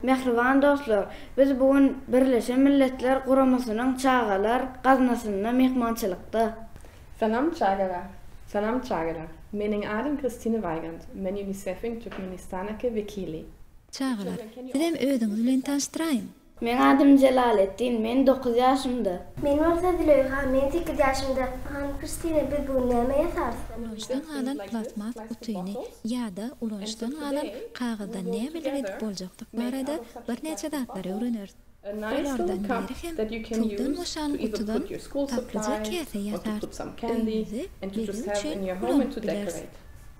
Mähriban dostlar, biz bu gün Birleşen Milletler Guramasynyň Çagalar gaznasynda myhmançylykda. Salam çagalar! Salam çagalar! Meniň adym Kristine Weigand, men UNICEF-iň Türkmenistanaky wekili. Çagalar, sizem özüňiz bilen tanyşdyraýyň! Meň adym Jelaletdin, men dokuz ýaşymda. Men bolsa Züleýha, men sekiz ýaşymda. Hanym Kristina, biz bu gün näme ýasarys? Ulanyşdan galan plastmas gutyny ýa-da ulanyşdan galan kagyzdan nämeler edip boljakdygy barada birnäçe zatlary öwreneris. Olardan biri hem puldan boşan gutudan tatlyja käse ýasar. Öýüňizi bezeg üçin ulanyp bileris.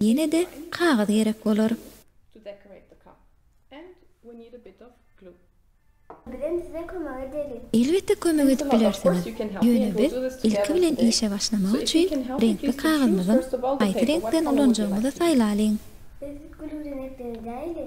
Ýene-de kagyz gerek bolar. Bizem size kömek edeli. Elbetde kömek edip bilersiňiz. Ýöne biz ilki bilen işe başlamak üçin reňkli kagyzymyzyň haýsy reňkden ulanjagymyzy saýlalyň. Biz gülüwjin etdiň edäýeli.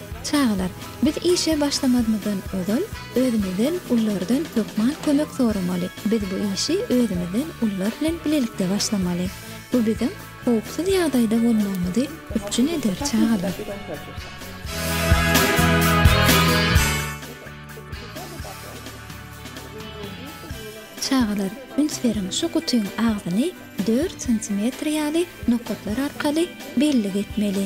Çagalar, biz işe başlamazmyzdan ozal, özümizden ullardan hökman kömek soramaly. Biz bu işi özümizden ullar bilen bilelikde başlamaly. Bu biziň howpsuz ýagdaýda bolmagymyzy üpjün eder, çagalar. Çagalar, üns beriň, şu gutyň agzyny dört santimetr ýaly nokatlar arkaly bellik etmeli.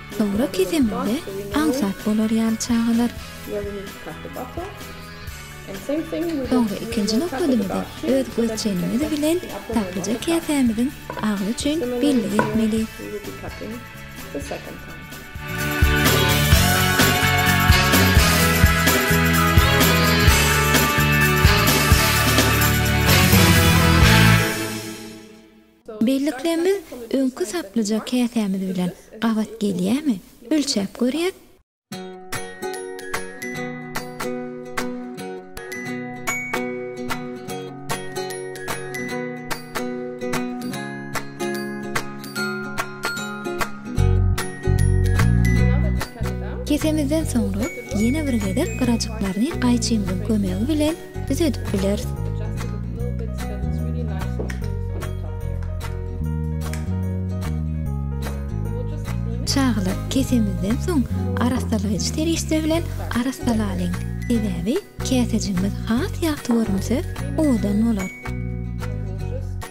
Dogry kesemize aňsat bolar ýaly çagalar. Soňra ikinji nokadymyzy öz göz çenimiz bilen taplyja käsämiziň agzy üçin bellik etmeli. Bellikleýin biz öňki saplyja käsämiz bilen gabat gelýämi ölçäp görýäs. Kesemizden soňra ýene bir gezek gyrajyklaryny gaýçymyzyň kömegi bilen Biz edip bileris. Çagalar kesemizden soň arassalaýjy serişde bilen arassalalyň. Sebäbi käsejimiz has ýagty görünse, owadan bolar.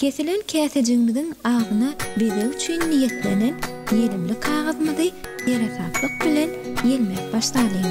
Kesilen käsejigiňiziň agzyna bezeg üçin niýetlenen ýelimli kagyzymyzy seresaplyk bilen ýelmäp başlalyň.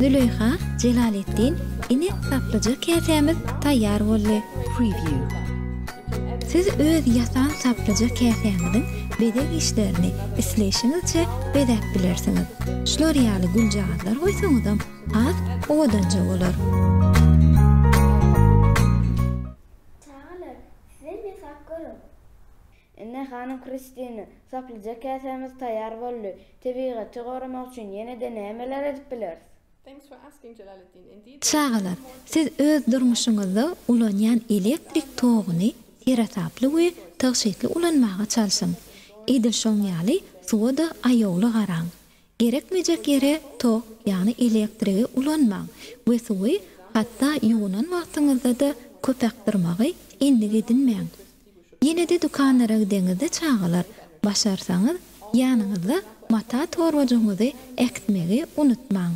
Züleýha, Jelaletdin, ine saplyja käsämiz taýýar boldy. Preview. Siz öz ýasan saplyja käsäňiziň bezeg işlerini isleýşiňizçe bezäp bilersiňiz. Şular ýaly güljagazlar goýsaňyzam has owadanja bolar. Indi, hanym Kristina, saplyja käsämiz taýýar boldy. Tebigaty goramak üçin ýene-de nämeler edip bileris? Çagalar, siz öz durmuşyňyzda ulanýan elektrik toguny seresaply we tygşytly ulanmaga çalşyň. Edil şoň ýaly suwa-da aýawly garaň. Gerekmejek ýere tok, ýagny elektrigi ulanmaň we suwy hatda ýuwunan wagtyňyzda-da köp akdyrmagy endik edinmäň. Ýene-de dükanlara gideňizde çagalar, başarsaňyz, ýanyňyzda mata torbajygyňyzy äkitmegi unutmaň.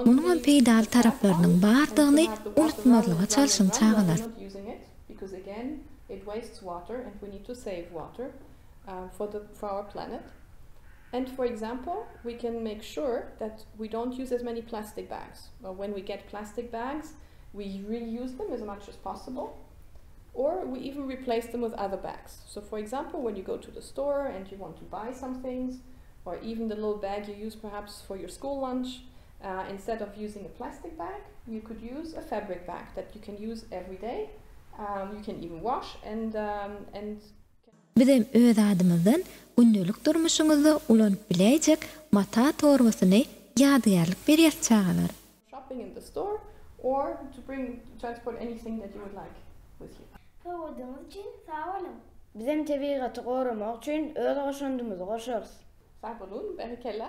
Munuňam peýdaly taraplarynyň bardygyny unutmazlyga çalşyň çagalar. Or we even replace them with other bags. So for example when you go to the store and you want to buy some things or even the little bag you use perhaps for your school lunch uh instead of using a plastic bag you could use a fabric bag that you can use every day um you can even wash and um and Bizem öz adymyzdan gündelik durmuşyňyzda ulanyp biläýjek mata torbasyny ýadygärlik berýäs çagalar. Shopping in the store or to bring transport anything that you would like with you. Sowgadyňyz üçin sag boluň! Bizem tebigaty goramak üçin öz goşandymyzy goşarys. Sag boluň, berekella!